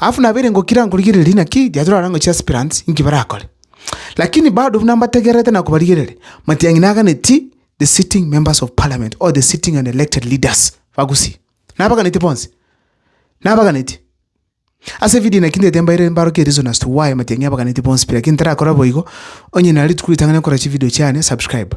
Alafu nabo ere ngokira nkorigereria naki riacho rarenge gochia aspirants inki barakore. Lakini bado buna mbategererete na kobarigereria, matiang'i naganeti the sitting members of parliament or the sitting and elected leaders Bagusii. Nabaganeti bonsi. Nabaganeti. Ase evideo eye naki ntete mbaire mbarokie reason as to why matiang'i abaganeti bonsi pi lakini ntarakora boigo, onye nare rituko ritang'ani gokora chivideo chiane subscribe.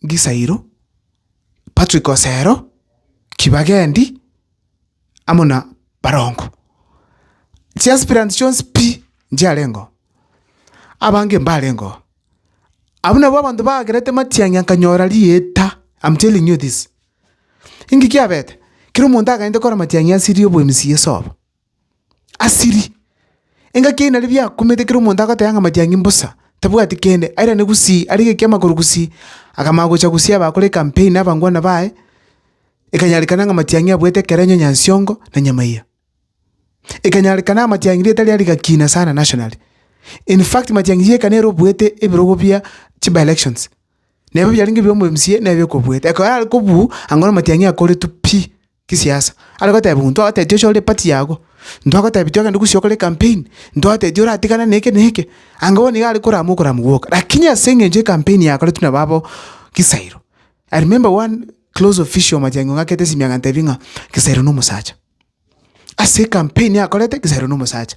Ngisairo, Patrick Osero, Kibagendi amo na barongo. Chiaspirant chionsi pi nchiarengeo, abange mbarengeo. Abwo nabwo abanto baagerete matiang'i akanyora rieta, am telling you this. Inki kiabete? Kera omonto akagenda gokora matiang'i ase ria obo MCA sobo. Asiri! Engaki eye nari biakumete ekero omonto agoteba ng'a amatiang'i mbosa, tabwati kende, airane gusii, arenge ekiama korwa gusii, akamanya gocha gusii abakore ecampaign na abangwana baye, ekanyarekana ng'a amatiang'i abuete ekerenyo nyansiongo na nyamaiya. Ekanyarekana amatiang'i rieta riaye rigakina sana nationally. In fact matiang'i rieka nere obuete ebirogo bia chiba-elections, na ebio biarenge bia omomca nere okobuete, ekero are kobuu, ango na amatiang'i akoretwe pi. Kisiasa. Are goteba ng'o ntwagotetia ochore party yago, ntwagotebi twagende gusii okore campaign, ntwagotebi oratigane neke na eke, anga bono nigo arekorama okorama gwoka. Rakini ase eng'encho ecampaign yakoretwe na babo Kisairo, I remember one close official Matiang'i ong'akete esimi agantebi ng'a Kisairo nomosacha. Ase ecampaign akorete, Kisairo nomosacha.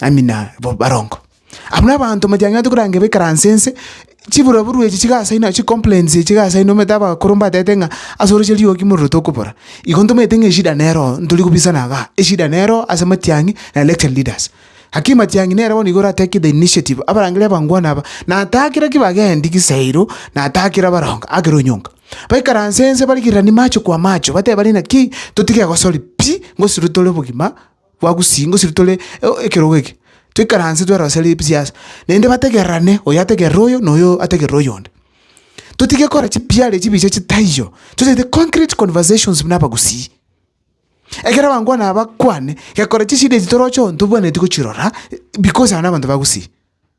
ami na bo barongo. Abwo nabaanto motang'ati koranga ebekaranse nse, chiburoburu echi chiga ase inwe, chicomplains echi iga ase inwe, omanyete abakoro mbatebete ng'a ase oroche riogi mororo tokobora. Igo ntomanyete ng'a eshida nero oo, ntori kobisana igaa, eshida nero ase matiang'i na elected leaders. Hakim matiang'i nere bono iga ora take the initiative, abarangeria abangwana aba, natakera ki bagendi giseiro, natakera barongo agere onyonga. Baikaranse nse barigereranie macho kwa macho, batebanie ng'a ki totige gosori pi, ngosiru tore bogima. Twagusirie gose tore ekerogo eke, toikaranse twerose ebisiasi, naende bategererane oyo ategerere oyo na oyo ategerere oyonde. Totige gokora chipiare chibicha chitaiyo, tochete concrete conversations buna abagusii. Ekero abankwana aba bakwane, gekora chishida echi toroche oo ntobwenereti gochirora because aba nabanto ba gusii.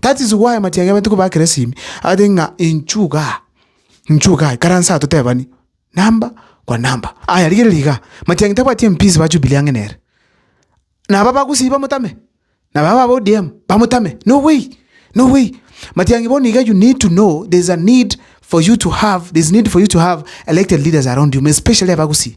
That is why matiangi abaito koba akeresimi, agoteba ng'a inchuo iga aa, inchuo iga aa, ikaransa aa totebani, number kwa number. Aya rigereria igaa, matiangi tabwati MPs ba Jubilee ang'e nere. Naba bagusii bamotame, naba aba ba ODM bamotame, no way, no way. Matiangi bono iga you need to know there's a need for you to have, there's need for you to have elected leaders around you, especially abagusii.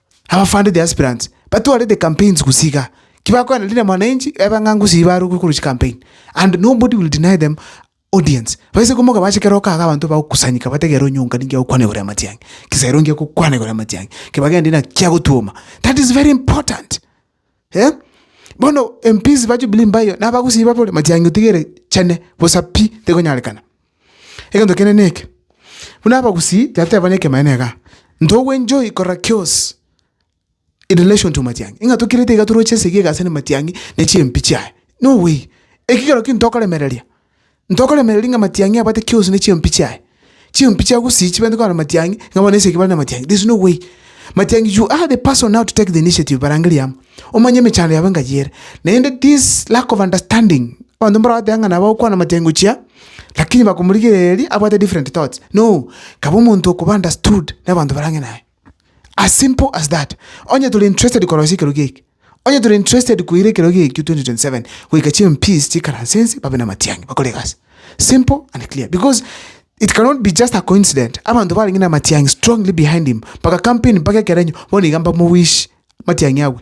Abafande, the aspirants, batware the campaigns gose iga. Ki bakoenda rinde mwananchi ebe ng'a ngusii barokwe korwa chi campaign and nobody will deny them audience. Baise komoka bache kera oka iga abanto bagokusanyeka bategere onye onga ninki agokwana igoro ya matiang'i. Gesa ere onge agokwana igoro ya matiang'i, ki bagende ng'a ki agotwoma. That is very important. eh. Bono empisi ba Jubilee mbayo nabagusii babore matiang'i otiga ere chene bosa pi tekonyarekana. Egento kende neke, buna abagusii tibateba neke ekemaneno igaa, ntogo enjoy korora kiosi in relation to matiang'i ng'a tokirete iga toroche esegi egasi ande matiang'i ne chiempi chiaye, no way, ekigero ki ntokoremereria Ntokoremereria ng'a amatiang'i abwate kiusu ne chiompi chiaye. Chiompi chia gusii chibwenerete korora amatiang'i, ng'a bono esegi bare namatiang'i. There is no way. Matiang'i you are the person now to take the initiative barangerie amo. Omanye emechando yabo engachi ere. Naende this lack of understanding, abanto mboragoteba ng'a nabo agokwana amatiang'i gochia, lakini bakomorigereria abwate different thoughts. No! Kaba omonto okoba understood nabanto barange naye. As simple as that. Onye tore interested korosia ekerogo eke, onye tore interested koira ekerogo ekio 2027 goika chi MPs chiikaranse ense babe namatiang'i bakore egasi. Simple and clear because it cannot be just a coincident abanto barenge namatiang'i strongly behind him mpaka campaign mpaka ekerenyo bono iga mbamowish matiang'i agwe.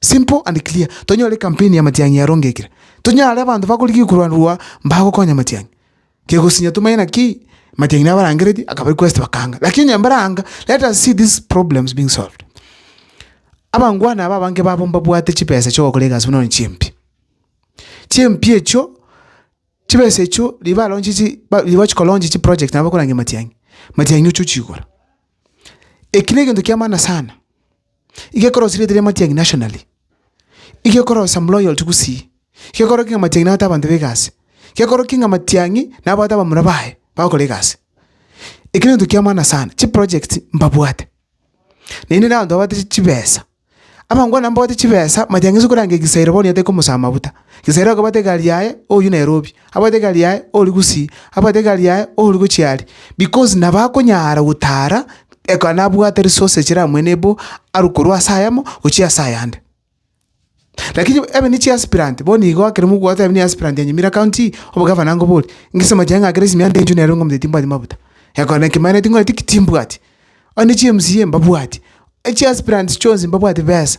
Simple and clear, tonyore campaign ya matiang'i yarongekire, tonyare abanto bakorigia korwanirwa mbagokonya matiang'i, kegosinya tomanye naki matiang'i nabo arangereti akaba request bakanga lakini onye mbaranga let us see these problems being solved. Abangwana aba abange babo mbabwate chibesa chiogokora egasi buna one chimpi, chimpi echio chibesa echio riria baronche chi ba riria bagochi koronche chiproject nabo bakorangeria matiang'i, matiang'i ochia ochigora. Eki negento kiamana sana. igekorosia erieta ria Matiang'i Nationally, igekorosia Mloyalty gusii, igekorokia ng'a Matiang'i nabwate abanto b'egasi, igekorokia ng'a Matiang'i nabwate abamura baye bagokora egasi. Eki nento kiamana sana, chiprojects mbabwate, naende nabanto babwate chi chibesa. Abangwana abwo mbabwate chibesa, Matiang'i ase okoranga egisairo bono nigo atari komosaba mabuta, egisairo akabwate egari yaye oywo Nairobi. Abwate egari yaye ori gusii, abwate egari yaye ori gochia aria, because nabo akonyara gotaara ekero nabwate resources chire amoenebo arwe korwa ase ayamo gochia ase ayande. Lakini ebe ne chiaspirant bono igo ekero mogoteba niye aspirant anyumire county ii, obogavana nkobori, ngise mochie ng'a kera esimiante enchwe nere ng'umete timbwati mabuta, ekero naki maeneti nkore ki? timbwati. Onye ne chi MCA mbabwati, echiaspirants chionsi mbabwati besa.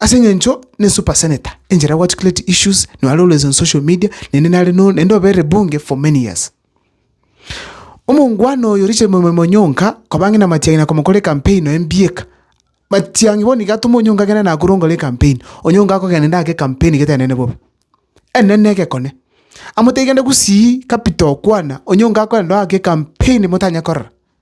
Ase eng'encho ne super senator enchera go articulate issues no are always on social media naende nare no naende obere bunge for many years. Omongwana oyo Richard Mwemai Onyonka koba ang'e na Matiang'i na komokora ecampaign noe mbieka. Matiang'i bono iga atoma Onyonka agende Nakuru nkore ecampaign, Onyonka akogenda inde ake ecampaign gete enene bobe. Enene egekone. Amotebi genda gusii capital kwana, Onyonka akogenda oo ake ecampaign motanya korora.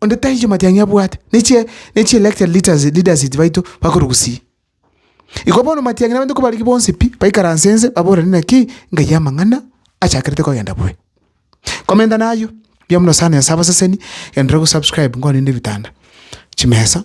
Onde tari chimatiang'i abwate, ne chi ne chi elected leaders leaders baito bakorugusia. Igo bono matiang'i nabaito kobarigi bonsi pi, baikaranse ense, baborane naki ngai amang'ana achakerete kogenda bobe. Komenta nayio, mbuya mono sana nyasae abaseseni, genderera gosubscribe nkorende ebitanda, chimesa,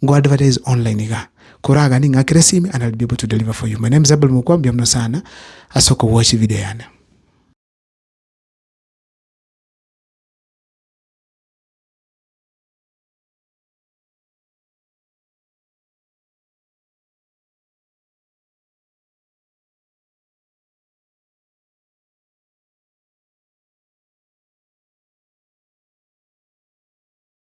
Go advertise online iga, koragane ng'a kere simi and I'll be able to deliver for you. My name is Abel Mukwa, mbuya muno sana ase okogwachia video yane.